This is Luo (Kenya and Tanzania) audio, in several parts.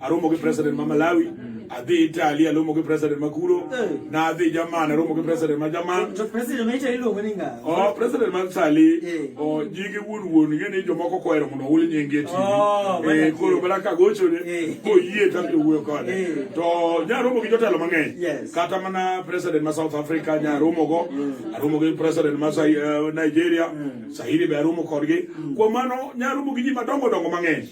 aromo gi president ma Malawi adhi Italy aromo gi president ma kuro na adhi Jaman aromo gi president ma Jaman to president ma Italy luongo ni ng'a oh president ma Italy o jige wuon wuon ng'e ni jomoko kohero mondo ohul nyingi e tv e koro mana ka gocho ne koyie tam to wuoyo kode to nyaromo gi jotelo mang'eny kata mana president ma South Africa nyaromo go aromo gi president ma Nigeria Sahili be aromo kodgi kuom mano nyaromo gi ji madongo dongo mang'eny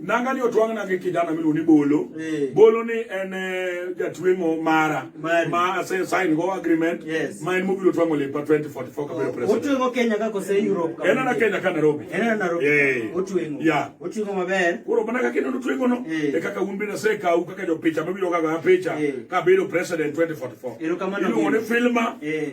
nanga ni otwang'na gi kijana miluongo ni Bolo. Eh. Bolo ni en eh, jatweng'o mara ma ase sign go agreement yes. ma en mobiro twang'o lepa 2044 kabiro oh, president. Otweng'o Kenya kako se Europe kako. Enana Kenya ka Nairobi. Enana Nairobi. Yeah. Otweng'o. Yeah. Otweng'o maber. Koro mana kaka ineno otweng'o no yeah. e kaka un bende se kau kaka jopicha mabiro kaka picha yeah. kabiro president 2044. Iluongo ni Filma. Yeah.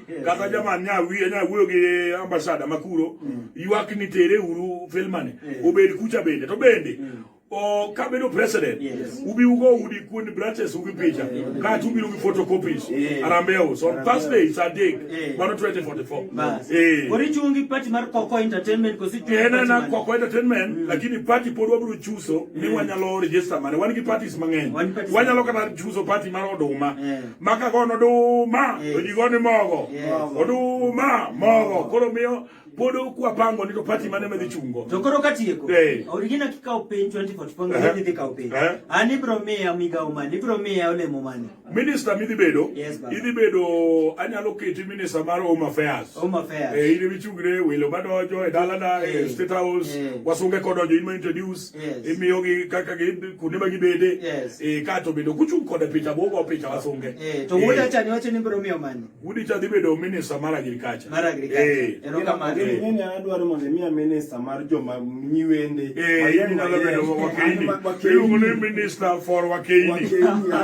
kata jaman nya wiye nya wuoyo gi ambasada makuro mm. ywak ni tere uru filmani mm. obed kucha bende to bende mm. o kabedo president yes. ubi ugo udi kuon branches ubi picha yes. kati ubiro gi photocopies yes. arambeo so on thursday it's a day yes. 2044 bas eh kori chungi party mar koko entertainment kosi chungi eh na koko entertainment mm. lakini party pod wabiro chuso mm. ni wanyalo register mane wan gi parties mang'eny wanyalo kata chuso party mar oduma yeah. maka gono oduma to ji goni mogo oduma mogo koro miyo pod okwapango ni to pati mane medhi chungo to koro katieko eh. origina kikawo piny 2044 idhi kawo piny eh. an ibro miya migawo mane ibro miya olemo mane minista midhi bedo idhi bedo anyalo keti minista mar home affairs home affairs eh, idhi michungre welo madonjo e dalana e state house wasunge kodonjo in ma introduce imiyoki kaka kuonde ma gibede eh, ka to bende kuchung' koda picha bo go picha wasunge eh, to wuda eh. cha ni wacho ni biro miyo mane wuda cha dhi bedo minister mar agriculture mar agriculture erokamano ni adwaro mondo imiya minister mar joma nyiwende mayani nyalo bedo wakeini iluongo ni minister for wakeini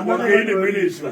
wakeini minister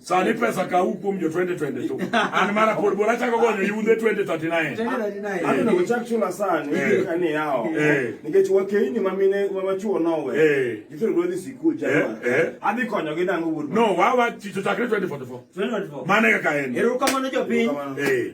Sani pesa ka u kuom jo 2022. An mara pod bora chako gonyo yudhe 2039. 2039. Ano no chak chula sani eh. ani yao. Eh. Nikech wakeini ma mine ma machuo nowe. Eh. Gitro rodi sikul jana. Adhi konyo gi dango wuod. No, wawa chicho chakre 2044. 2044. Mane kaka en. Erukamano jopiny. Eh.